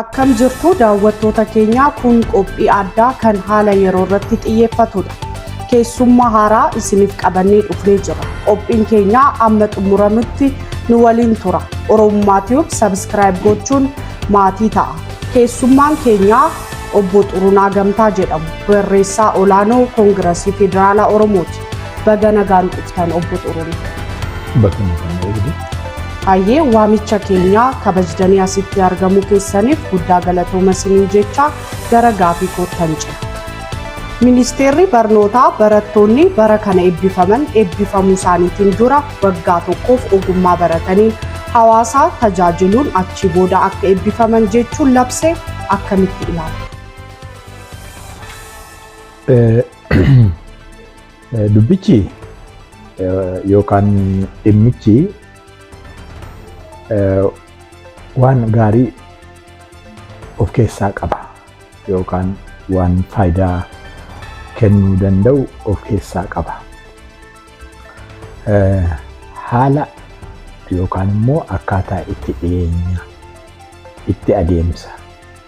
Akkam jirtu daawwattoota keenyaa kun qophii addaa kan haala yeroo irratti xiyyeeffatudha. Keessummaa haaraa isiniif qabannee dhufnee jira. Qophiin keenyaa amma xumuramutti nu waliin tura. Oromummaa Tube sabiskiraayib gochuun maatii ta'a. Keessummaan keenyaa obbo Xurunaa Gamtaa jedhamu barreessaa olaanoo Koongirasii Federaalaa Oromooti. Baga nagaan dhuftan obbo Xurunee. Bakka nagaan eegdu. Hayyee waamicha keenya kabajtanii asitti argamuu keessaniif guddaa galatooma isiniin jecha gara gaafii koottan jira. Ministeerri barnootaa barattoonni bara kana eebbifaman eebbifamuu isaaniitiin dura waggaa tokkoof ogummaa barataniin hawaasaa tajaajiluun achii booda akka eebbifaman jechuun labse akkamitti ilaalu? Dubbichi yookaan dhimmichi waan gaarii of keessaa qaba yookaan waan faayidaa kennuu danda'u of keessaa qaba. Haala yookaan immoo akkaataa itti dhiyeenya itti adeemsa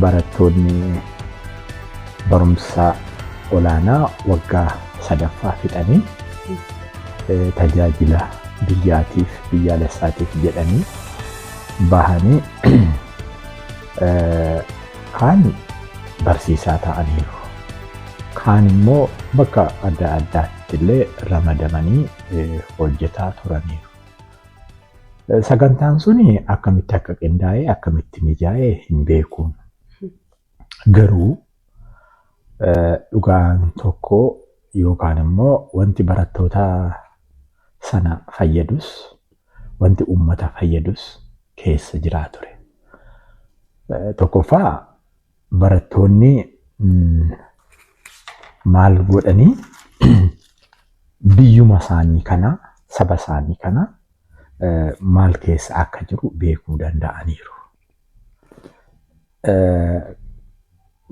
Barattoonni barumsa olaanaa waggaa sadaffaa fixanii tajaajila biyyaatiif biyyaalessaatiif jedhanii bahanii kaan barsiisaa ta'aniiru. Kaan immoo bakka adda addaatti illee ramadamanii hojjetaa turaniiru. Sagantaan sun akkamitti akka qindaa'e akkamitti mijaa'e hin beeku. Garuu dhugaan tokko yookaan immoo wanti barattoota sana fayyadus wanti uummata fayyadus keessa jiraa ture. Tokkoffaa barattoonni maal godhanii biyyuma isaanii kana saba isaanii kana maal keessa akka jiru beekuu danda'aniiru.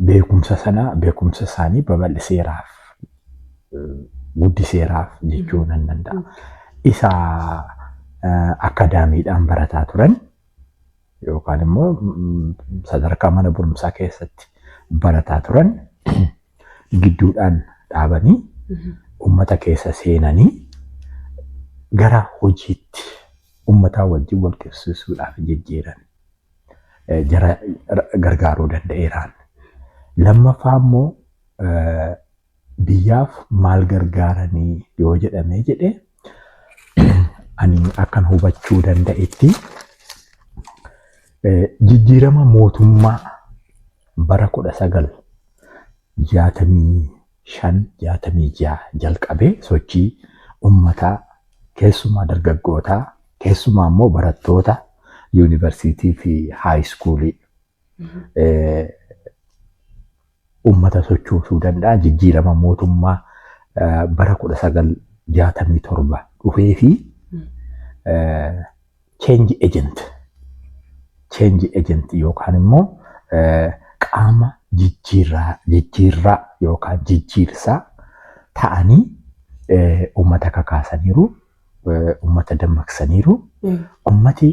Beekumsa sana beekumsa isaanii babal'iseeraaf guddiseeraaf jechuu nan danda'a. Isa akaadaamiidhaan barataa turan yookaan immoo sadarkaa mana barumsaa keessatti barataa turan gidduudhaan dhaabanii uummata keessa seenanii gara hojiitti uummataa wajjin wal qabsiisuudhaaf jijjiiran jara gargaaruu danda'eeraan. Lammaffaa immoo biyyaaf maal gargaaranii yoo jedhamee jedhe ani akkan hubachuu danda'etti jijjiirama mootummaa bara kudha sagal jaatamii shan jaatamii ja'a jalqabee sochii ummataa keessumaa dargaggootaa keessumaa immoo barattoota yuunivarsiitii fi haayiskuulii ummata sochoosuu danda'a jijjiirama mootummaa bara 1967 dhufee fi change agent change agent yookaan immoo qaama jijjiirraa jijjiirraa yookaan jijjiirsaa ta'anii ummata kakaasaniiru ummata dammaqsaniiru ummati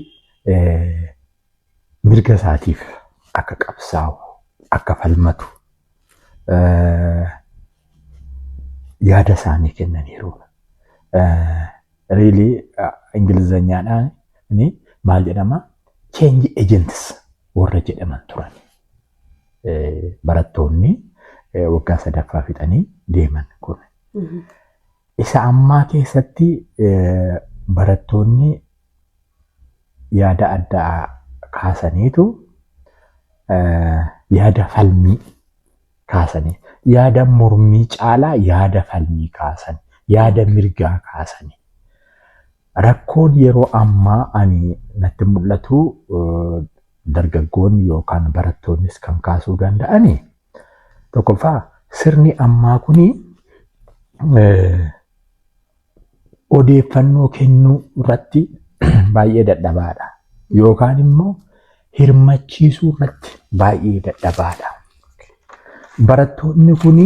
mirga isaatiif akka qabsaa'u, akka falmatu yaada isaanii kennaniiru. Riilii Ingilizanyaadhaan maal jedhama? Change agents warra jedhaman turan. Barattoonni waggaa sadaffaa fixanii deeman kun. Isa ammaa keessatti barattoonni yaada addaa kaasaniitu yaada falmii kaasanii yaada mormii caalaa yaada falmii kaasan yaada mirgaa kaasanii. Rakkoon yeroo ammaa ani natti mul'atu dargaggoonni yookaan barattoonnis kan kaasuu danda'ani Tokkoffaa sirni ammaa kun odeeffannoo kennuu irratti baay'ee dadhabaadha. Yookaan immoo hirmachiisuu irratti baay'ee dadhabaadha. Barattoonni kun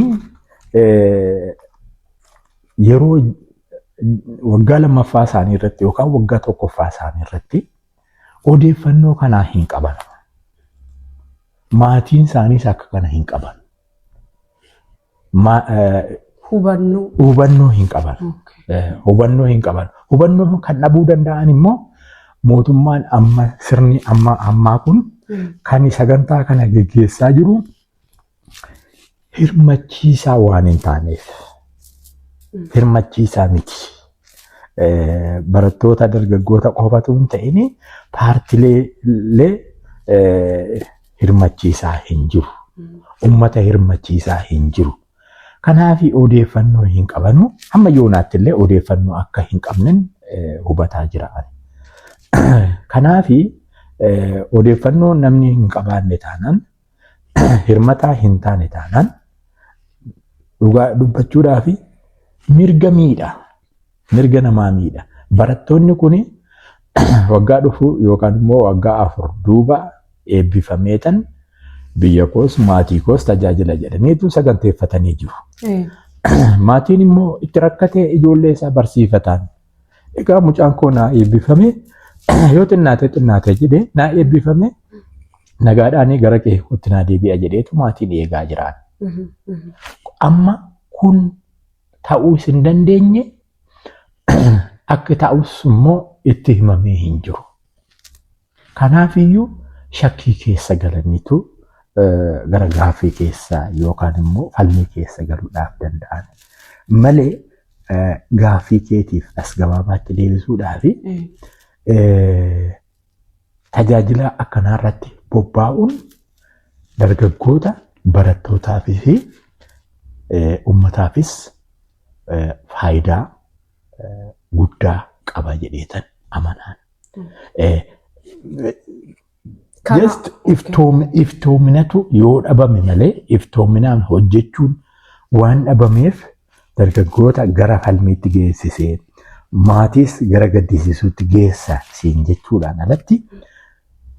yeroo waggaa lammaffaa isaanii irratti yookaan waggaa tokkoffaa isaanii irratti Odeeffannoo kanaa hin qaban. Maatiin isaaniis akka kana hin qaban. Ma- eh, Hubannoo. Hubannoo hin qaban. Okay. Eh, Hubannoo hin qaban. Hubannoo kan dhabuu danda'an immoo mootummaan amma sirni amma ammaa kun Mm. kan sagantaa kana geggeessaa jiru hirmachiisaa waan hin taaneef hirmachiisaa miti. Eh, Barattoota dargaggoota qofatu hin ta'in paartilee eh, hirmachiisaa hin jiru. Uummata hirmachiisaa hin jiru. Kanaaf odeeffannoo hin qabanu. Hamma yoonaatti illee odeeffannoo akka hin qabnen eh, hubataa jira. ani. Kanaaf odeeffannoo namni hin qabaanne taanaan hirmataa hin taane taanaan dhugaa dubbachuudhaa fi mirga miidha. Mirga namaa miidha. Barattoonni kun waggaa dhufu yookaan immoo waggaa afur duuba eebbifameetan biyya koos maatii koos tajaajila jedhaniitu saganteeffatanii jiru. Maatiin immoo itti rakkatee ijoollee isaa barsiifataan Egaa mucaan koo naa eebbifame yoo xinnaate xinnaate jedhee naa eebbifame nagaadhaan gara qe'ee kootti naa deebi'a jedheetu maatiin eegaa jiraan. Amma kun ta'uu isin dandeenye akka ta'us immoo itti himamee hin jiru. Kanaafiyyuu shakkii keessa galaniitu gara gaaffii keessa yookaan immoo falmii keessa galuudhaaf danda'an malee gaaffii keetiif as gabaabaatti deebisuudhaaf tajaajila akkanaa irratti bobbaa'uun dargaggoota barattootaafii fi uummataafis faayidaa guddaa qaba jedheetan amanaan. Just iftoominatu yoo dhabame malee iftoominaan hojjechuun waan dhabameef dargaggoota gara falmiitti geessisee maatiis gara gaddisiisuutti geessa siin jechuudhaan alatti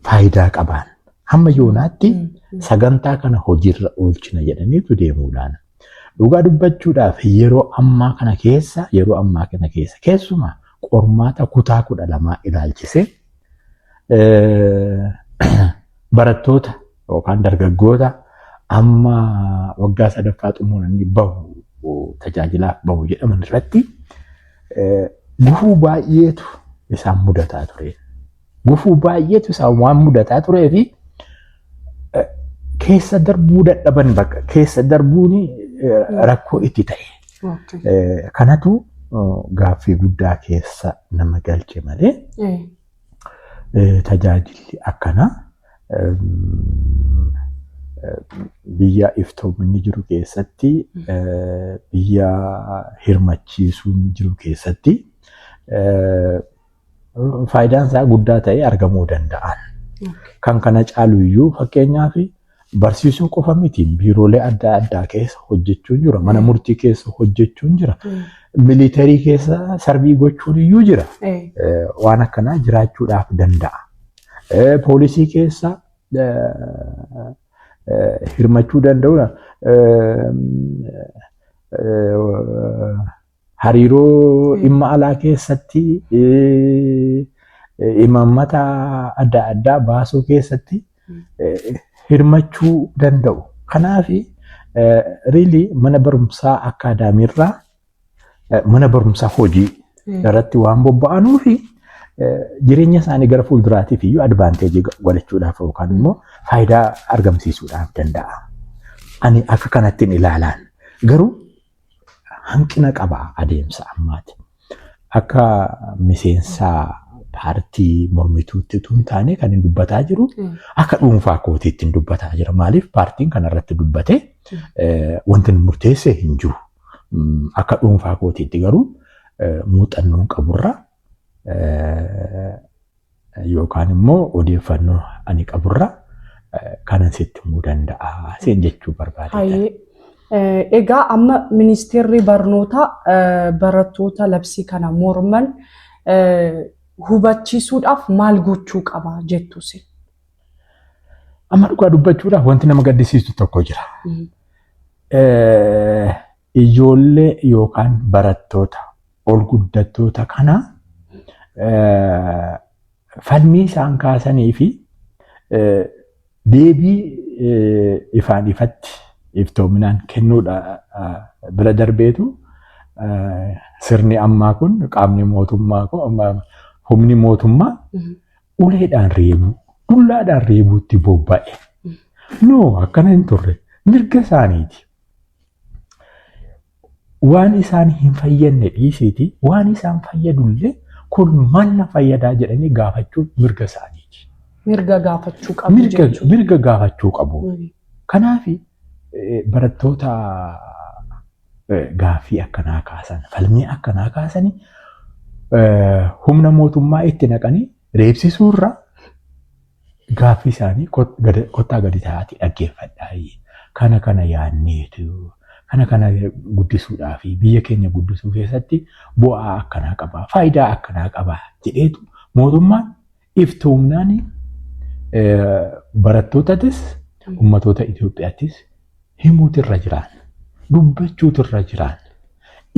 faayidaa qabaan. Hamma yoonaatti sagantaa kana hojiirra oolchina jedhaniitu deemuudhaan. Dhugaa dubbachuudhaaf yeroo ammaa kana keessa yeroo ammaa kana keessa keessumaa qormaata kutaa kudha lamaa ilaalchisee barattoota yookaan dargaggoota amma waggaa sadaffaa xumuranii bahu tajaajilaaf bahu jedhaman irratti gufuu baay'eetu isaan mudataa ture. Gufuu baay'eetu isaan waan mudataa turee fi keessa darbuu dadhaban bakka keessa darbuun rakkoo itti ta'e. Kanatu gaaffii guddaa keessa nama galche malee tajaajilli akkanaa biyya iftoominni jiru keessatti biyya hirmachiisuun jiru keessatti faayidaan isaa guddaa ta'ee argamuu danda'an. Kan kana caalu iyyuu fakkeenyaaf barsiisuu qofa miti biiroolee adda addaa keessa hojjechuun jira mana murtii keessa hojjechuun jira miliitarii keessa sarbii gochuun iyyuu jira waan akkanaa jiraachuudhaaf danda'a. Poolisii keessa hirmachuu danda'uudha. Hariiroo dhimma alaa keessatti imaammata adda addaa baasuu keessatti hirmachuu danda'u. Kanaaf riili mana barumsaa akkaadaamiirraa mana barumsaa hojii irratti waan bobba'anuu fi jireenya isaanii gara fuulduraatiif iyyuu advaanteejii godhachuudhaaf yookaan immoo faayidaa argamsiisuudhaaf danda'a. Ani akka kanattiin ilaalaan garuu hanqina qaba adeemsa ammaati. Akka miseensa paartii mormituutti utuu hin taane kan hin dubbataa jiru akka dhuunfaa kootiitti hin dubbataa jira. Maaliif paartiin kanarratti dubbate wanti hin murteesse hin jiru. Akka dhuunfaa kootiitti garuu muuxannoon qaburra yookaan immoo odeeffannoo ani qaburra kanan sitti himuu danda'a seen jechuu barbaade. Hayyee. Egaa amma ministeerri barnootaa barattoota labsii kana morman hubachiisuudhaaf maal gochuu qaba jettu isin? Amma dhugaa dubbachuudhaaf wanti nama gaddisiisu tokko jira. Ijoollee yookaan barattoota olguddattoota kana falmii isaan kaasanii fi deebii ifaan ifatti iftoominaan kennuudha bira darbeetu sirni ammaa kun qaamni mootummaa humni mootummaa uleedhaan reebuu dullaadhaan reebuutti bobba'e. No akkana hin turre mirga isaaniiti. waan isaan hin fayyadne dhiisiiti waan isaan fayyadullee kun maal na fayyadaa jedhanii gaafachuun mirga isaaniiti. Mirga gaafachuu qabu Mirga, jechuudha. mirga gaafachuu qabu. Mm. Kanaaf barattoota eh, gaaffii akkanaa kaasan, falmii akkanaa kaasanii eh, humna mootummaa itti naqanii reebsisuurra gaaffii isaanii kot- gada- kottaa gadi ta'aatii dhaggeeffadhaa. Kana kana yaadneetu kana kana guddisuudhaa fi biyya keenya guddisuu keessatti bu'aa akkanaa qaba, faayidaa akkanaa qaba jedheetu mootummaan iftoomnaan eh, barattootatis ummatoota Itoophiyaattis himuutu irra jiraan. Dubbachuutu irra jiraan.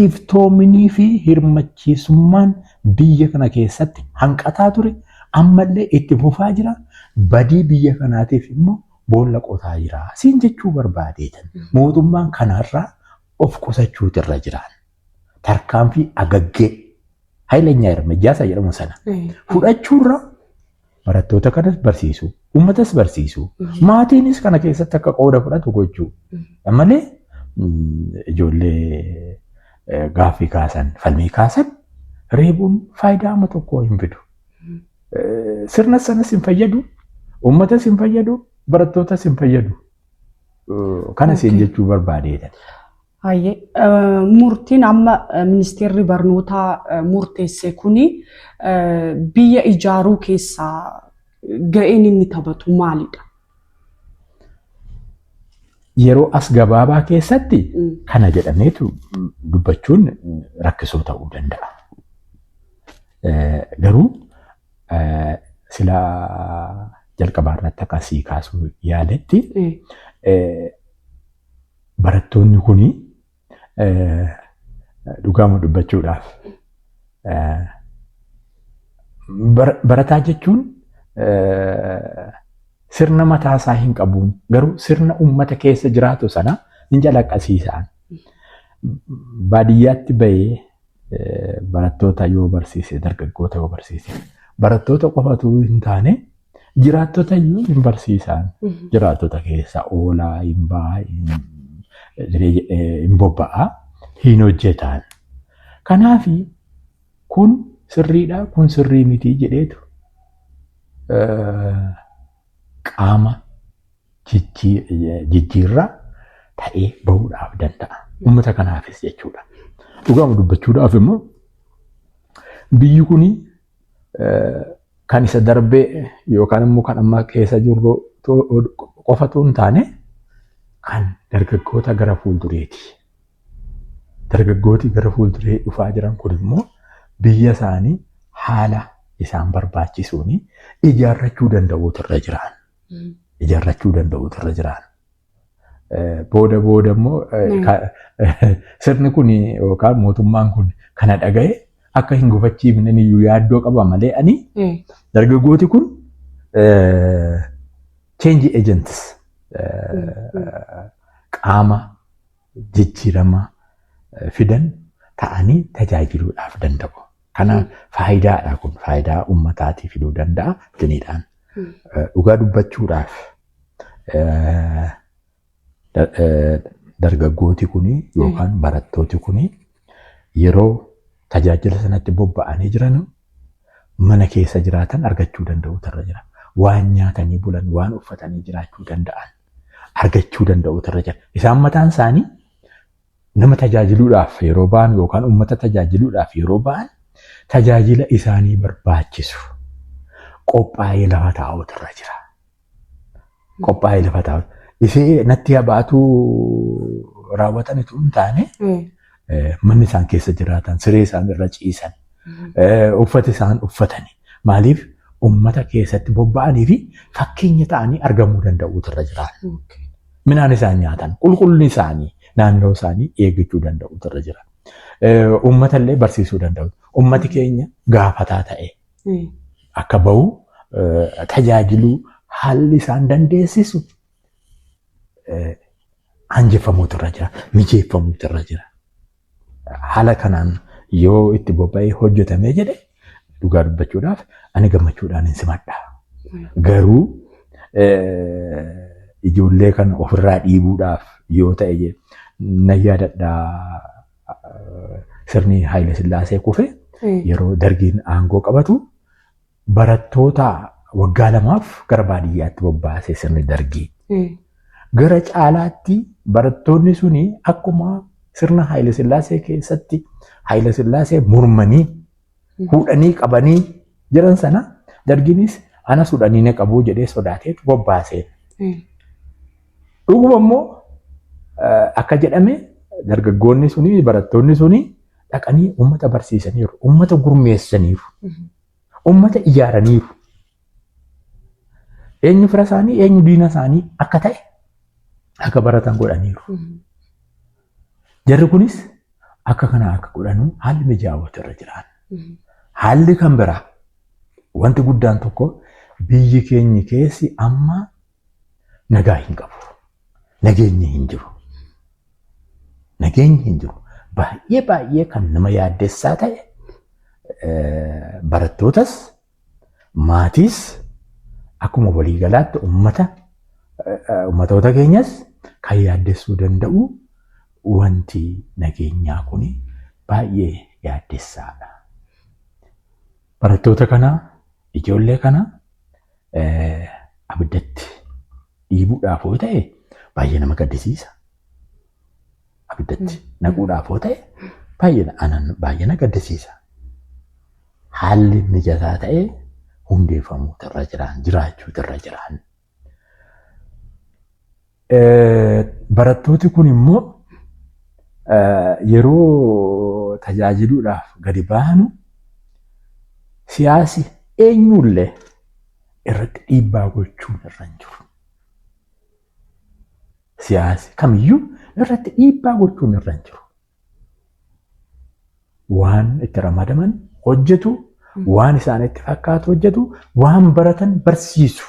Iftoominii fi hirmachiisummaan biyya kana keessatti hanqataa ture ammallee itti fufaa jira. Badii biyya kanaatiif immoo boolla qotaa jira. Siin jechuu barbaadeetan mootummaan kanarraa of qusachuutu irra jiraan. tarkaanfii agaggee hayilenyaa hirmejjaa isa jedhamu sana fudhachuurra barattoota kanas barsiisuu uummatas barsiisuu maatiinis kana keessatti akka qooda fudhatu gochuu malee ijoollee gaaffii kaasan falmii kaasan reebuun faayidaa amma tokkoo hin fidu. Sirna sanas hin fayyadu, uummatas hin fayyadu, barattootas hin fayyadu. Kana siin jechuu barbaadeetan. Hayyee murtiin amma ministeerri barnootaa murteesse kuni biyya ijaaruu keessaa ga'een inni taphatu maalidha? Yeroo as gabaabaa keessatti kana jedhameetu dubbachuun rakkisoo ta'uu danda'a. Garuu sila jalqabaa irratti akka sii kaasuu yaaletti Barattoonni kun dhugaama dubbachuudhaaf barataa jechuun sirna mataa isaa hin qabu garuu sirna uummata keessa jiraatu sana hin calaqqisiisaan. Baadiyyaatti bahee barattoota yoo barsiise dargaggoota yoo barsiise barattoota qofatu hin taane Jiraattota iyyuu hin barsiisaan. Jiraattota keessa oolaa, hin ba'aa, hin bobba'aa, hin hojjetaan. Kanaaf kun sirriidha, kun sirrii miti jedheetu qaama jijjiirraa ta'ee bahuudhaaf danda'a. Uummata kanaafis jechuudha. Dhugaama dubbachuudhaaf immoo biyyi kun kan isa darbee yookaan immoo kan amma keessa jirru qofatu hin taane kan dargaggoota gara fuuldureeti. Dargaggooti gara fuulduree dhufaa jiran kun immoo biyya isaanii haala isaan barbaachisuun ijaarrachuu danda'uutu irra jiraan. Ijaarrachuu danda'uutu irra jiraan. Booda booda immoo sirni kun yookaan mootummaan kun kana dhaga'e akka hin gufachiifne iyyuu yaaddoo qaba malee ani dargaggooti kun change agents qaama jijjiirama fidan ta'anii tajaajiluudhaaf danda'u. Kanaaf faayidaadha kun faayidaa uummataatii fiduu danda'a diniidhaan. Dhugaa dubbachuudhaaf dargaggooti kun yookaan barattooti kun yeroo tajaajila sanatti bobba'anii jiran mana keessa jiraatan argachuu danda'u irra jira. Waan nyaatanii bulan waan uffatanii jiraachuu danda'an. argachuu danda'uutu irra jira. Isaan mataan isaanii nama tajaajiluudhaaf yeroo ba'an yookaan uummata tajaajiluudhaaf yeroo ba'an tajaajila isaanii barbaachisu qophaa'ee lafa taa'uutu irra jira. Qophaa'ee lafa taa'uutu. Ishee natti habaatu raawwatanitu hin taane manni isaan keessa jiraatan, siree isaan irra ciisan, uffata isaan uffatani. Maaliif uummata keessatti bobba'anii fi fakkeenya ta'anii argamuu danda'uutu irra jira. Minaan isaan nyaatan, qulqullinni isaanii, naannoo isaanii eeggachuu danda'uutu irra jira. Uummata illee barsiisuu danda'u. Uummati keenya gaafataa ta'e akka bahu tajaajiluu haalli isaan dandeessisu aanjeffamuutu irra jira, mijeeffamuutu irra jira. Haala kanaan yoo itti bobba'ee hojjetamee jedhe dhugaa dubbachuudhaaf ani gammachuudhaan hin simadha. Garuu ijoollee kan ofirraa dhiibuudhaaf yoo ta'e na yaadadhaa sirni Haayile Sillaasee kufe yeroo dargiin aangoo qabatu barattoota waggaa lamaaf gara baadiyyaatti bobbaasee sirni dargii. Gara caalaatti barattoonni suni akkuma sirna Haayila Sillaasee keessatti Haayila Sillaasee mormanii hudhanii qabanii jiran sana dargiinis anas hudhanii na qabuu jedhee sodaatee bobbaasee. Dhuguma immoo akka jedhame dargaggoonni suni barattoonni suni dhaqanii uummata barsiisaniiru, uummata gurmeessaniiru. Uummata ijaaraniiru. Eenyu fira isaanii eenyu diina isaanii akka ta'e akka baratan godhaniiru. Jarri kunis akka kana akka godhanu haalli mijaa'ootu irra jiraan. Haalli kan biraa wanti guddaan tokko biyyi keenya keessi amma nagaa hin qabu. Nageenyi hin jiru. Nageenyi hin jiru. Baay'ee baay'ee kan nama yaaddessaa ta'e barattootas maatiis akkuma waliigalaatti ummata ummatoota keenyas kan yaaddessuu danda'u wanti nageenyaa kun baay'ee yaaddessaadha. Barattoota kana, ijoollee kana abiddatti dhiibuudhaaf yoo ta'e baay'ee nama gaddisiisa. Abiddatti naquudhaaf yoo ta'e baay'ee anan baay'ee na gaddisiisa. Haalli mijataa ta'e hundeeffamuutu irra jiraan jiraachuutu irra jiraan. Barattooti kun immoo yeroo tajaajiluudhaaf gadi baanu siyaasi eenyullee irratti dhiibbaa gochuun irra hin jiru. Siyaasi kamiyyuu irratti dhiibbaa gochuun irra hin jiru. waan itti ramadaman hojjetu, waan isaanitti fakkaatu hojjetu, waan baratan barsiisu.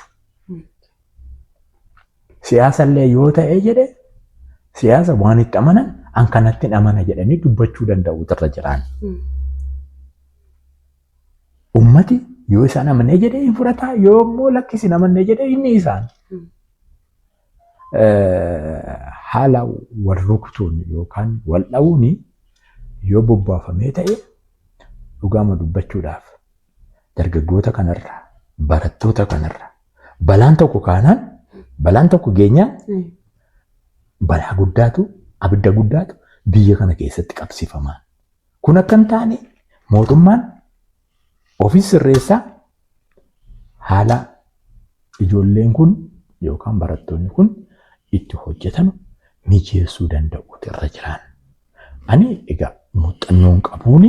Siyaasa illee yoo ta'e jedhe siyaasa waan itti amanan an kanatti amana jedhanii dubbachuu danda'u irra jiraan. Ummati yoo isaan amanee jedhe hin fudhataa yoo immoo lakki isin amannee jedhe inni isaan. haala wal rukutuun yookaan wal dha'uun yoo bobbaafamee ta'e dhugaama dubbachuudhaaf dargaggoota kanarra barattoota kanarra balaan tokko kaanaan balaan tokko geenyaan balaa guddaatu abidda guddaatu biyya kana keessatti qabsifamaa. Kun akka hin taane mootummaan Ofis sirreessaa haala ijoolleen kun yookaan barattoonni kun itti hojjetanu mijeessuu danda'uutu irra jiraan. Ani egaa muuxannoon qabuun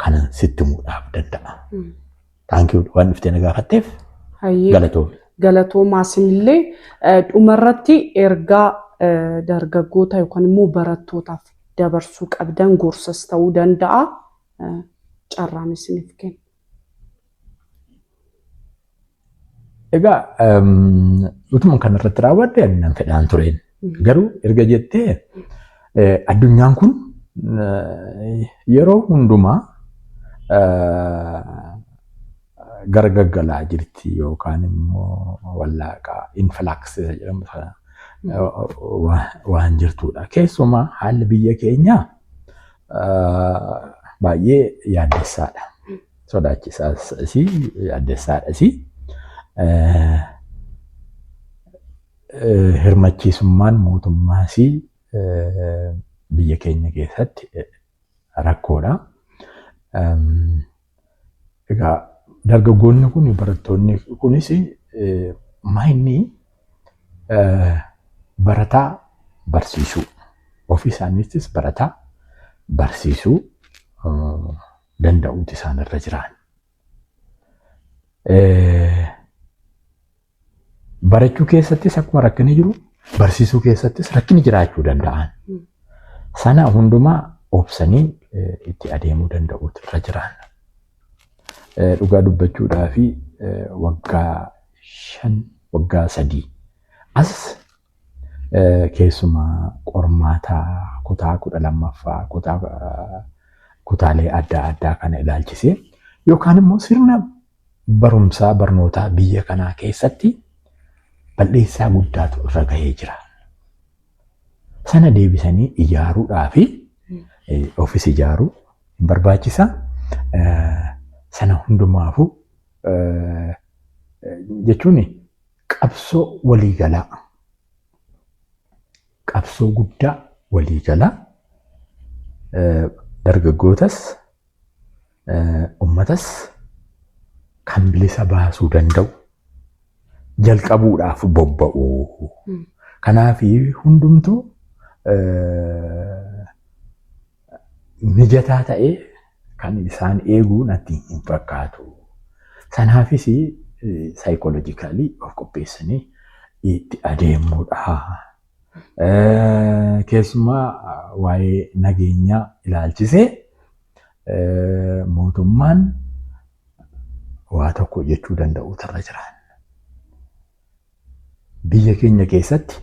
kanan sitti muudhaaf danda'a. Taankii waan dhuftee na gaafatteef Hayyee galatoomi. galatoomaa isinillee eh, dhumarratti ergaa eh, dargaggoota yookaan immoo barattootaaf dabarsuu qabdan gorsas ta'uu danda'a carraan isiniif kenna. Egaa utuma kan irratti raawwadde ani nan fedhaan tureen. Garuu erga jettee addunyaan kun yeroo hundumaa gargaggalaa jirti yookaan immoo wallaaqaa infilaaksisa jedhamu sana waan jirtudha. Keessumaa haalli biyya keenyaa Baay'ee yaaddessaadha. Sodaachisaas yaaddessaadha. Hirmachiisummaan mootummaas biyya keenya keessatti rakkoodha. Egaa dargaggoonni kun barattoonni kunis maayinni barataa barsiisuu ofii isaaniittis barataa barsiisuu danda'uuti isaanirra jiraan. Barachuu keessattis akkuma rakkinni jiru barsiisuu keessattis rakkinni jiraachuu danda'an. Sana hundumaa obsanii itti adeemuu danda'uutu irra jiraan. Dhugaa dubbachuudhaa fi waggaa shan waggaa sadii as Keessumaa qormaata kutaa kudha lammaffaa kutaa kutaalee adda addaa kana ilaalchisee yookaan immoo sirna barumsaa barnootaa biyya kanaa keessatti bal'eessaa guddaatu irra gahee jira. Sana deebisanii ijaaruudhaa fi ofis ijaaruu hin barbaachisa. Sana hundumaafuu jechuun Qabsoo waliigalaa qabsoo guddaa waliigalaa dargaggootas ummatas kan bilisa baasuu danda'u jalqabuudhaaf bobba'u. Kanaaf hundumtuu mijataa ta'e kan isaan eeguu natti hin fakkaatu. Sanaafis saayikoolojikaalii of qopheessanii itti adeemuudha. Keessumaa waa'ee nageenyaa ilaalchisee mootummaan waa tokko jechuu danda'u irra jiraan. Biyya keenya keessatti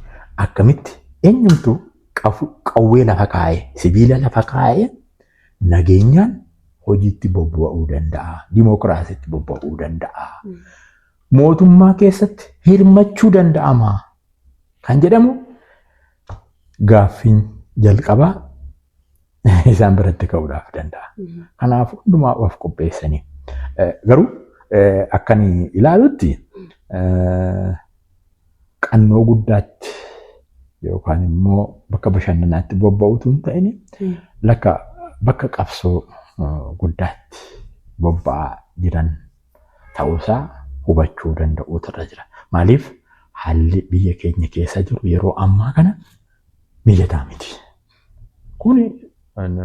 akkamitti eenyumtu qawwee lafa kaa'ee sibiila lafa kaa'ee nageenyaan hojiitti bobba'uu danda'a. Dimookiraasiitti bobba'uu danda'a. Mootummaa keessatti hirmachuu danda'ama kan jedhamu gaaffiin jalqabaa isaan biratti ka'uudhaaf danda'a. Kanaaf hundumaa of qopheessanii. Eh, Garuu eh, akkan ilaalutti eh, qannoo guddaatti yookaan immoo bakka bashannanaatti bobba'utu hin ta'in lakka bakka qabsoo eh, guddaatti bobba'aa jiran ta'uusaa hubachuu danda'uutu irra jira. Maaliif haalli biyya keenya keessa jiru yeroo ammaa kana mijataa miti. Kun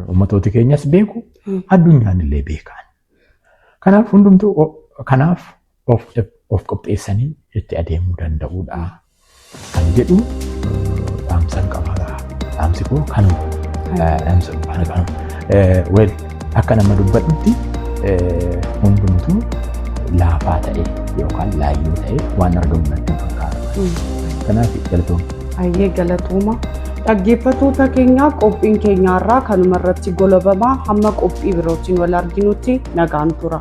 uummatooti keenyas beeku, addunyaan illee beekaan. Kanaaf hundumtuu kanaaf of qopheessanii itti adeemuu danda'uudha kan jedhu dhaamsan qabaadha. Dhaamsi koo kanuma. Dhaamsa dhufaana kanuma. Akka nama dubbadhutti hundumtuu laafaa ta'e yookaan laayyoo ta'e waan argamu natti fakkaata. Kanaaf galatooma. Baay'ee galatooma. Dhaggeeffattoota keenyaa qophiin keenyaarraa kanuma irratti golabamaa hamma qophii birootiin wal arginutti nagaan tura.